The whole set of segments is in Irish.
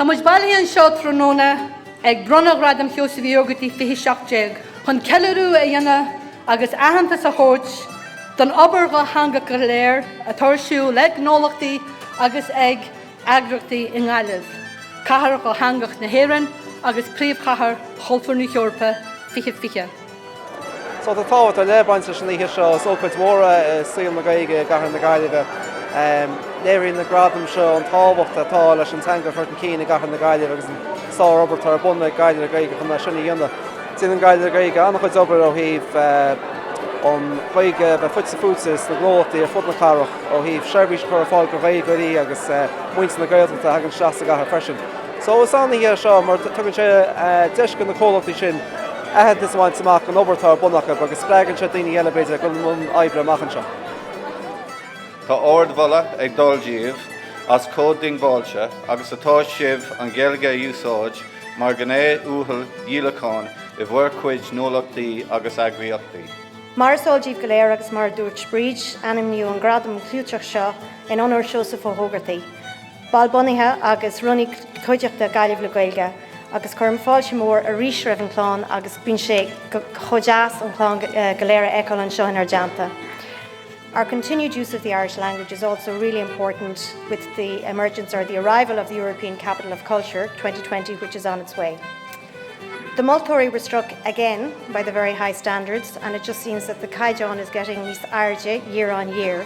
Tá muid bailithe anseo tráthnóna ag bronnadh Ghradam Sheosaimh Uí Ógartaigh 2017 chun ceiliúradh a dhéanamh agus aitheantas a thabhairt don obair dhátheangach go léir atá ar siúl le gnólachtaí agus ag eagraíochtaí i nGaillimh, Cathair Dhátheangach na hÉireann agus Príomhchathair Chultúir na hEorpa 2020. So tá tábhacht ar leith ag baint leis an oíche seo. Is ócáid mhór é i saol na Gaeilge i gcathair na Gaillimhe. Léiríonn na gradaim seo an tábhacht atá leis an teanga a chur chun cinn i gcathair na Gaillimhe agus an sár-obair atá ar bun ag Gaillimh le Gaeilge chun é sin a dhéanamh. Déanann Gaillimh le Gaeilge an-chuid obair ó thaobh an Ghaeilge a bheith fite fuaite sna gnólachtaí ar fud na cathrach, ó thaobh seirbhís a chur ar fáil do Ghaeilgeoirí agus muintir na Gaeltachta a thagann isteach sa gcathair freisin. So is an-oíche é seo mar tugann sé deis do na comhlachtaí sin, aitheantas a bhaint amach an obair atá ar bun acu agus spreagann sé daoine eile, b'fhéidir, dul i mbun oibre amach anseo. Tá ard-mholadh ag dul daoibh as chomh diongbháilte agus atá sibh an Ghaeilge a úsáid mar ghné uathal dhíolacháin i bhur chuid gnólachtaí agus eagraíochtaí. Mar is eol daoibh go léir agus mar a dúirt Bríd, ainmníodh an gradam clúiteach seo in onóir Seosamh Ó hÓgartaigh, Ball bunaithe agus rúnaí cuideachta Ghaillimh le Gaeilge agus cuirim fáilte mhór arís roimh an chlann agus bíonn sé chomh deas an chlann go léir a fheiceáil anseo inár dteannta. Our continued use of the Irish language is also really important with the emergence or the arrival of the European Capital of Culture 2020 which is on its way. The moltóirí were struck again by the very high standards and it just seems that the caighdeán is getting níos airde year on year.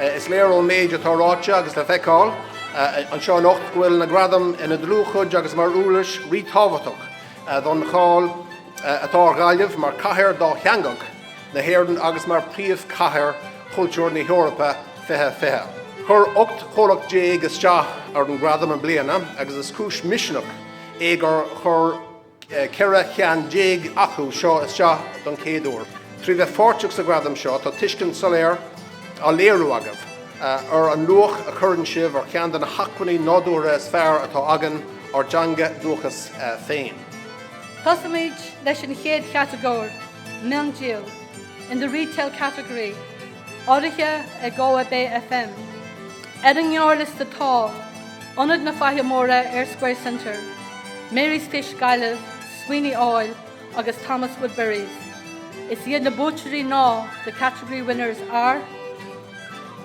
Is léir ón méid atá ráite agus le feiceáil anseo anocht go bhfuil na gradaim ina dlúthchuid agus mar uirlis ríthábhachtach don cháil atá ar Ghaillimh mar chathair dátheangach na hÉireann agus mar Phríomhchathair Chultúir na hEorpa 2020. Chuir 18 chomhlacht isteach ar an Ghradam i mbliana agus is cúis misnigh é gur chuir. ceithre cinn déag acu seo isteach don chéad uair. Trí bheith pháirteach sa Ghradam seo, tá tuiscint soiléir á léiriú agaibh ar an luach a chuireann sibh ar cheann de na hacmhainní nádúrtha is fearr atá againn, ár dteanga dhúchais féin. Tosaímid leis an chéad chatagóir, Miondíol, in the retail category. Urraithe ag Galway Bay FM. Ar an ngearrliosta tá, Ionad na Faiche Móire, Eyre Square Centre, Mary's Fish, Gaillimh, Sweeney Oil agus Thomas Woodburys. Is iad na buaiteoirí ná, The category winners are,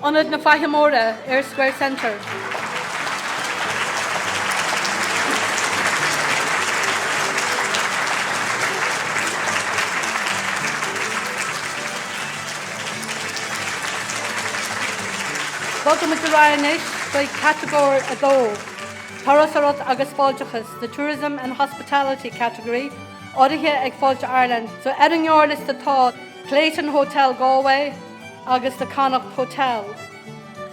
Ionad na Faiche Móire, Eyre Square Centre. Bogaimid ar aghaidh anois chuig catagóir 2, Turasóireacht agus Fáilteachas, the Tourism and Hospitality category, urraithe ag Fáilte Ireland. So ar an ngearrliosta tá, Clayton Hotel Galway agus The Connacht Hotel.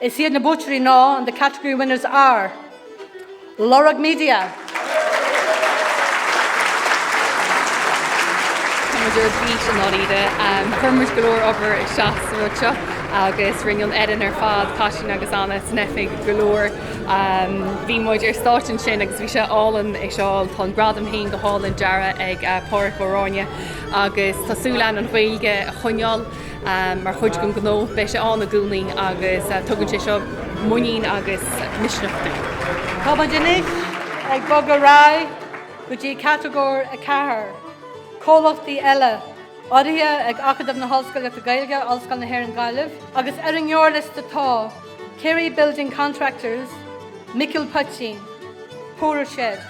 Is iad na buaiteoirí ná and the category winners are Lorg Media, Táimid ar bís i ndáiríre. Chuir muid go leor obair isteach sa rud seo agus rinne an fhoireann ar fad, Cáisín agus Anna, san oifig go leor. Bhí muid ar stáitse ansin agus bhí sé álainn é a fheiceáil. Tá an gradam féin go hálainn deartha ag Pádraic Ó Ráinne agus tá súil againn an Ghaeilge a choinneáil. Mar chuid den ghnó, beidh sé ann i gcónaí agus tugann sé seo muinín agus misneach dúinn. Táimid anois ag bogadh ar aghaidh go dtí Catagóir 4, Comhlachtaí Eile, urraithe ag Acadamh na hOllscolaíochta Gaeilge, Ollscoil na hÉireann Gaillimh, agus ar an ngearrliosta tá, Carey Building Contractors, Micil Poitín, PorterShed,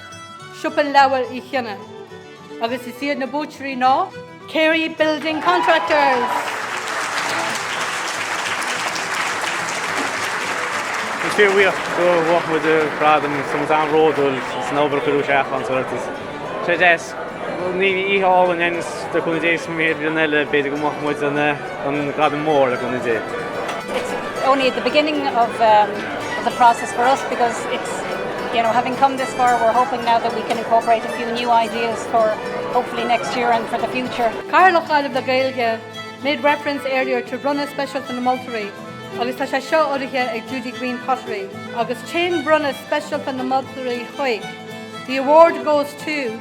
Siopa Leabhar Uí Chionnaith. Agus is iad na buaiteoirí ná. Carey Building Contractors. Is fíorbhuíoch gur bhuaigh muid an gradam, so muid an-bhródúil as an obair a cuireadh isteach anso ar dtús. So yes, oíche álainn é, agus le cúnamh Dé go mír bliain eile, b'fhéidir go mbuafaidh muid. An Gradam Mór le cúnamh Dé. It's only at the beginning of um of the process for us because it's you know having come this far we're hoping now that we can incorporate a few new ideas for hopefully next year and for the future. Cathaoirleach Ghaillimh le Gaeilge made reference earlier to Bronnadh Speisialta na Moltóirí agus tá sé seo urraithe ag Judy Greene Pottery. Agus téann Bronnadh Speisialta na Moltóirí chuig The award goes to.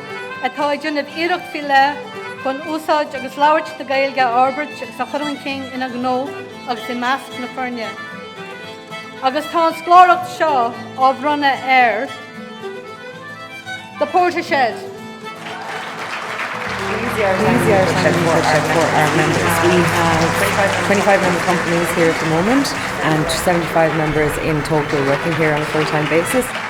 atá ag déanamh iarracht faoi leith chun úsáid agus labhairt na Gaeilge a fhorbairt agus a chur chun cinn ina ngnó agus i measc na foirne. Agus tá an scláireacht seo á bhronnadh ar The PorterShed. easier than easier than for our, for our members. We have 25 member companies here at the moment and 75 members in total working here on a full-time basis.